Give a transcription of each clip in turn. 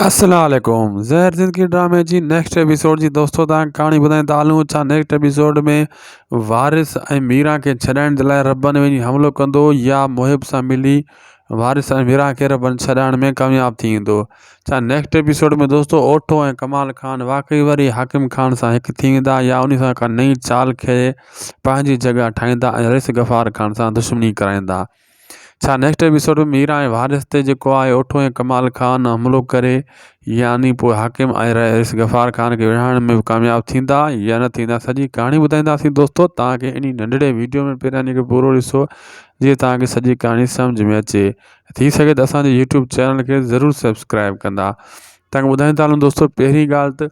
السلام عليڪم زهر زندگي ڊرامي جي نيڪسٽ ايپيسوڊ جي دوستو تان ڪهاڻي ٻڌائين ته هلون ڇا نيڪسٽ ايپيسوڊ ۾ وارث ۽ ميران کي ڇڏائڻ جي لاء ربن وڃي حملو ڪندو يا محب سان ملي وارث ۽ ميران کي ربن ڇڏائڻ ۾ ڪامياب ٿي ويندو ڇا نيڪسٽ ايپيسوڊ ۾ دوستو اوٺو ۽ ڪمال خان واقعي وري حاڪم خان سان هڪ ٿي ويندا يا ان سان ڪا نئين چال کي پنهنجي جڳهه ٺاهيندا ۽ رئيس غفار خان سان دشمني ڪرائيندا ڇا نيڪسٽ ايپيسوڊ ۾ ميرا ۽ وارث تي جيڪو آهي اوٺو ۽ ڪمال خان حملو ڪري يعني پوء حاڪم ۽ رئيس غفار خان کي وڙهائڻ ۾ به ڪامياب ٿيندا يا نه ٿيندا سڄي ڪهاڻي ٻڌائينداسين دوستو توهان کي انهي ننڍڙي ويڊيو ۾ پهريان هن کي پورو ڏسو جيئن توهان کي سڄي ڪهاڻي سمجهه ۾ اچي ٿي سگهي ته اسان جي يوٽيوب چينل کي ضرور سبسڪرائيب ڪندا توهان کي ٻڌائيندا هلون دوستو پهرين ڳالهه ته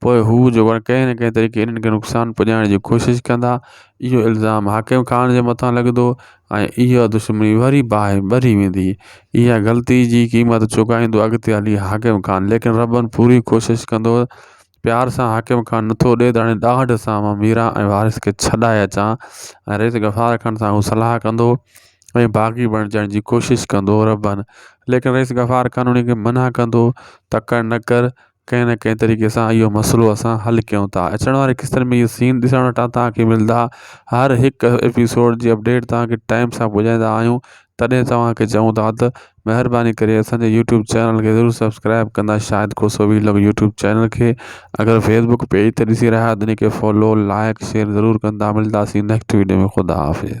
پوء هو جو پڻ ڪنهن نه ڪنهن طريقي انهن کي نقصان پڄائڻ جي ڪوشش ڪندا. اهو الزام حاڪم خان جي مٿان لڳندو ۽ اها دشمني وري باهه ٻري ويندي. اها غلطي جي قيمت چڪائيندو اڳتي هلي حاڪم خان. ليڪن ربن پوري ڪوشش ڪندو. پيار سان حاڪم خان نٿو ڏئي ته هاڻي ڏاهٽ سان مان ميران ۽ وارث کي ڇڏائي اچان ۽ رئيس غفار خان سان هو صلاح ڪندو ۽ باغي بڻجڻ جي ڪوشش ڪندو. ربن ليڪن رئيس غفار خان انهي کي منع ڪندو تڪڙ نه ڪر ڪنهن نه ڪنهن طريقي سان اهو مسئلو اسان حل ڪيون ٿا اچڻ واري قسطن ۾ اهي سين ڏسڻ وٽان تهانکي ملدا هر هڪ ايپيسوڊ جي اپڊيٽ تهانکي ٽائيم سان پڄائيندا آهيون تڏهن توهانکي چئون ٿا ته مهرباني ڪري اسانجي يوٽيوب چينل کي ضرور سبسڪرائيب ڪندا Shahid Khoso vlog YouTube channel کي اگر فيسبڪ پيج تي ڏسي رهيا آهيو ته ان کي فالو لائڪ شيئر ضرور ڪندا ملداسين نيڪسٽ وڊيو ۾ خدا حافظ